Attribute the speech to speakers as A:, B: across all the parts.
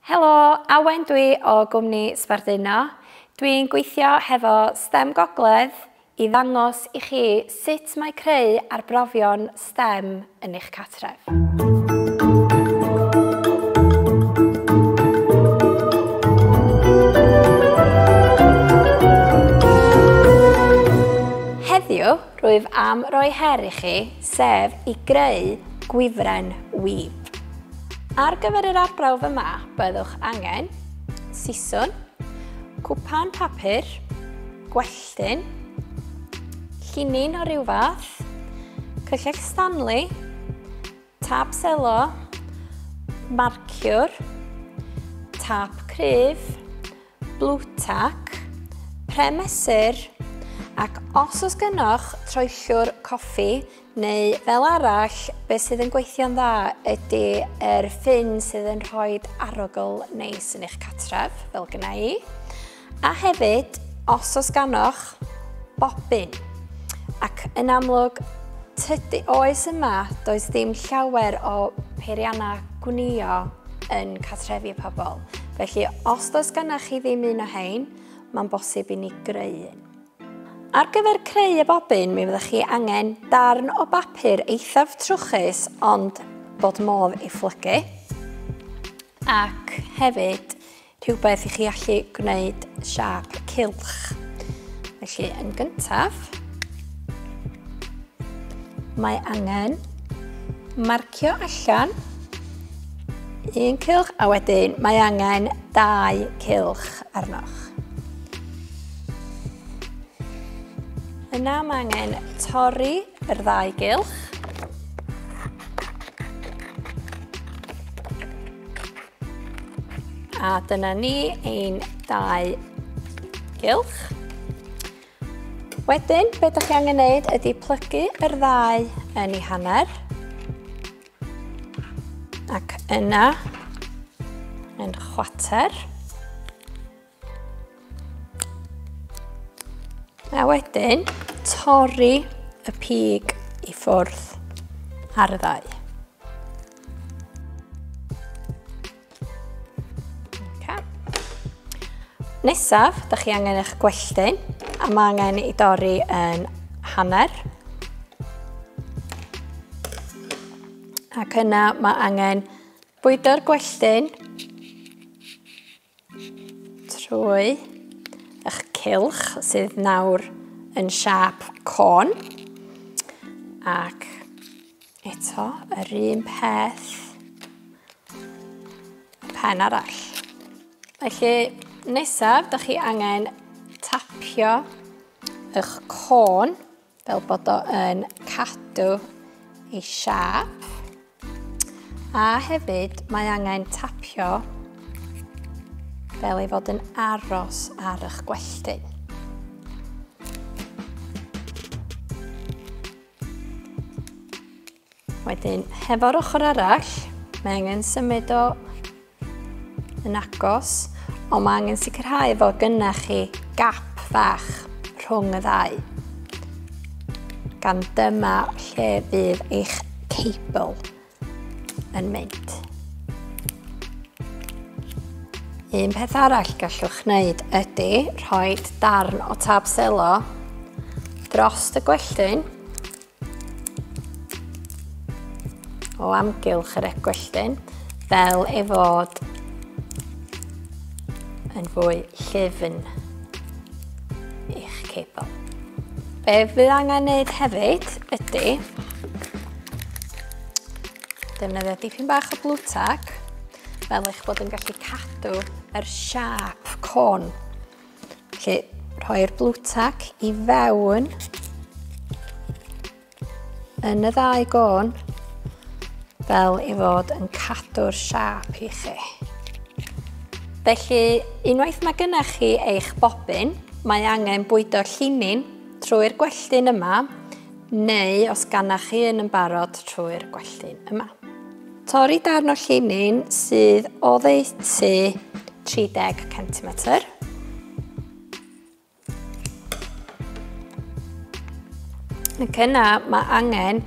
A: Helo, Awen dwi o gwmni Sbarduno. Dwi'n gweithio hefo stem Gogledd i ddangos i chi sut mae creu arbrofion stem yn eich cartref. Heddiw, rwyf am roi her i chi sef i greu gwifren wif. Ar gyfer yr arbrawf yma, byddwch angen siswn, cwpan papur, gwelltyn, llinyn o ryw fath, cyllell Stanley, tap selo, marciwr, tap cryf, Blutac, pren mesur, ac os oes gynoch troellwr coffi neu fel arall, beth sydd yn gweithio'n dda ydy yr ffyn sydd yn rhoi arogl neis yn eich catref, fel gyna i. A hefyd, os oes ganoch Bobbin. Ac yn amlwg, tydi oes yma, does dim llawer o peiriannau gwnio yn catrefi pobl. Felly, os does ganna chi ddim un o hein, mae'n bosib i ni greu un. Ar gyfer creu y bobyn, mi fyddwch chi angen darn o bapur eithaf trwchus ond bod modd ei phlygu. Ac hefyd, Rhywbeth i chi allu gwneud siap cilch. Felly, yn gyntaf, mae angen marcio allan un cilch a wedyn mae angen dau cilch arnoch. Yna mae angen torri yr ddau gylch. A dyna ni ein dau gylch. Wedyn, be ydych chi angen gwneud ydy plygu yr ddau yn ei hanner. Ac yna, yn chwater. A wedyn, torri y pig i ffwrdd ar y ddau. Okay. Nesaf, da chi angen eich gwelltyn, a mae angen i dorri yn hanner. Ac yna mae angen bwydo'r gwelltyn Trwy eich cilch sydd nawr yn siap con. Ac eto, yr un peth. Pen arall. Felly, nesaf, da chi angen tapio eich con Fel bod o yn cadw ei siap. A hefyd mae angen tapio fel ei fod yn aros ar eich gwelltyn. Wedyn, hefo'r ochr arall, mae angen symud o yn agos, ond mae angen sicrhau fod gynnau chi gap fach rhwng y ddau. Gan dyma lle fydd eich cable yn mynd. Un peth arall gallwch wneud ydy rhoi darn o tab selo dros y gwelltyn o amgylch yr egwelltyn fel ei fod yn fwy llyfn i'ch cebl. Be fydd angen wneud hefyd ydy defnyddio dipyn bach o blue tack fel eich bod yn gallu cadw yr siap côn Felly, rhoi'r blue tack i fewn yn y ddau gôn fel i fod yn cadw'r siap i chi. Felly, unwaith mae gyda chi eich bobyn, mae angen bwydo llinin trwy'r gwelltyn yma, neu os ganna chi yn yn barod trwy'r gwelltyn yma. Torri darn o llinyn sydd oddeutu 30 cm. Ac yna mae angen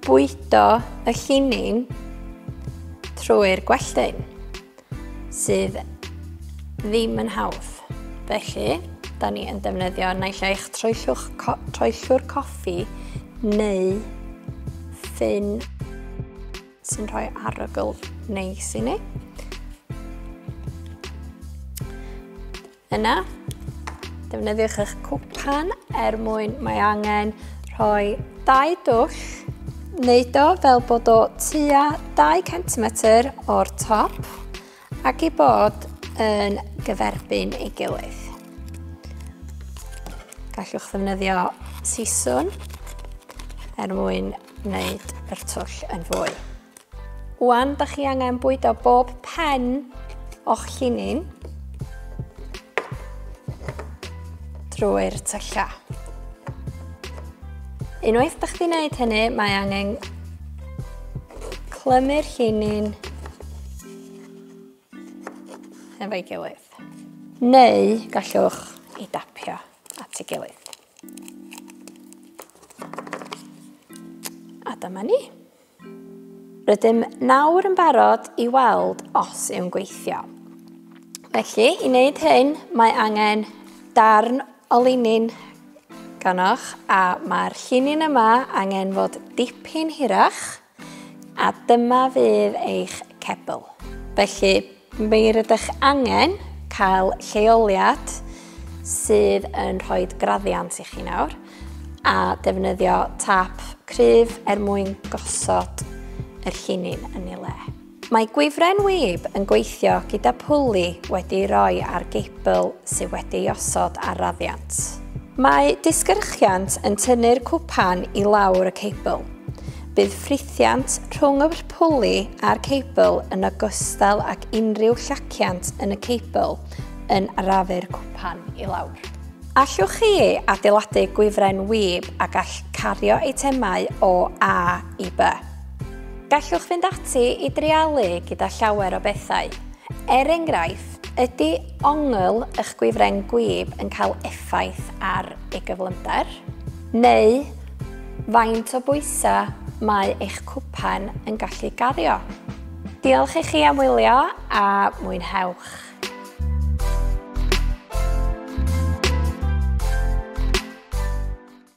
A: bwydo y llinyn trwy'r gwelltyn. sydd ddim yn hawdd. Felly, da ni yn defnyddio naill eich troellwr coffi neu ffyn sy'n rhoi arogl neis i ni. Yna, defnyddiwch eich cwpan er mwyn mae angen rhoi dau dwll. Wneud o fel bod o tua 2 cm o'r top ac i bod yn gyferbyn ei gilydd. Gallwch ddefnyddio siswn er mwyn wneud yr twll yn fwy. Wan da chi angen bwydo bob pen o'ch llinin drwy'r tylla. Unwaith da chdi wneud hynny, mae angen clymu'r llinin efo'i gilydd. Neu gallwch i dapio at ei gilydd. A dyma ni. Rydym nawr yn barod i weld os yw'n gweithio. Felly, i wneud hyn, mae angen darn o linyn ganoch a mae'r llinyn yma angen fod dipyn hirach a dyma fydd eich cebl. Felly, Mae rydych angen cael lleoliad sydd yn rhoi graddiant i chi nawr a defnyddio tap cryf er mwyn gosod yr llinyn yn ei le. Mae gwifren wib yn gweithio gyda pwli wedi ei roi ar geibl sydd wedi ei osod ar raddiant. Mae disgyrchiant yn tynnu'r cwpan i lawr y ceibl. Bydd Llaciant rhwng y pwli a'r cebl yn ogystal ag unrhyw llaciant yn y cebl yn arafu'r cwpan i lawr. Allwch chi adeiladu gwifren wib a gall cario eitemau o A i B. Gallwch fynd ati i dreialu gyda llawer o bethau. Er enghraifft, ydy ongl eich gwifren gwib yn cael effaith ar ei gyflymder? Neu Faint o bwysau mae eich cwpan yn gallu gario? Diolch i chi am wylio a mwynhewch!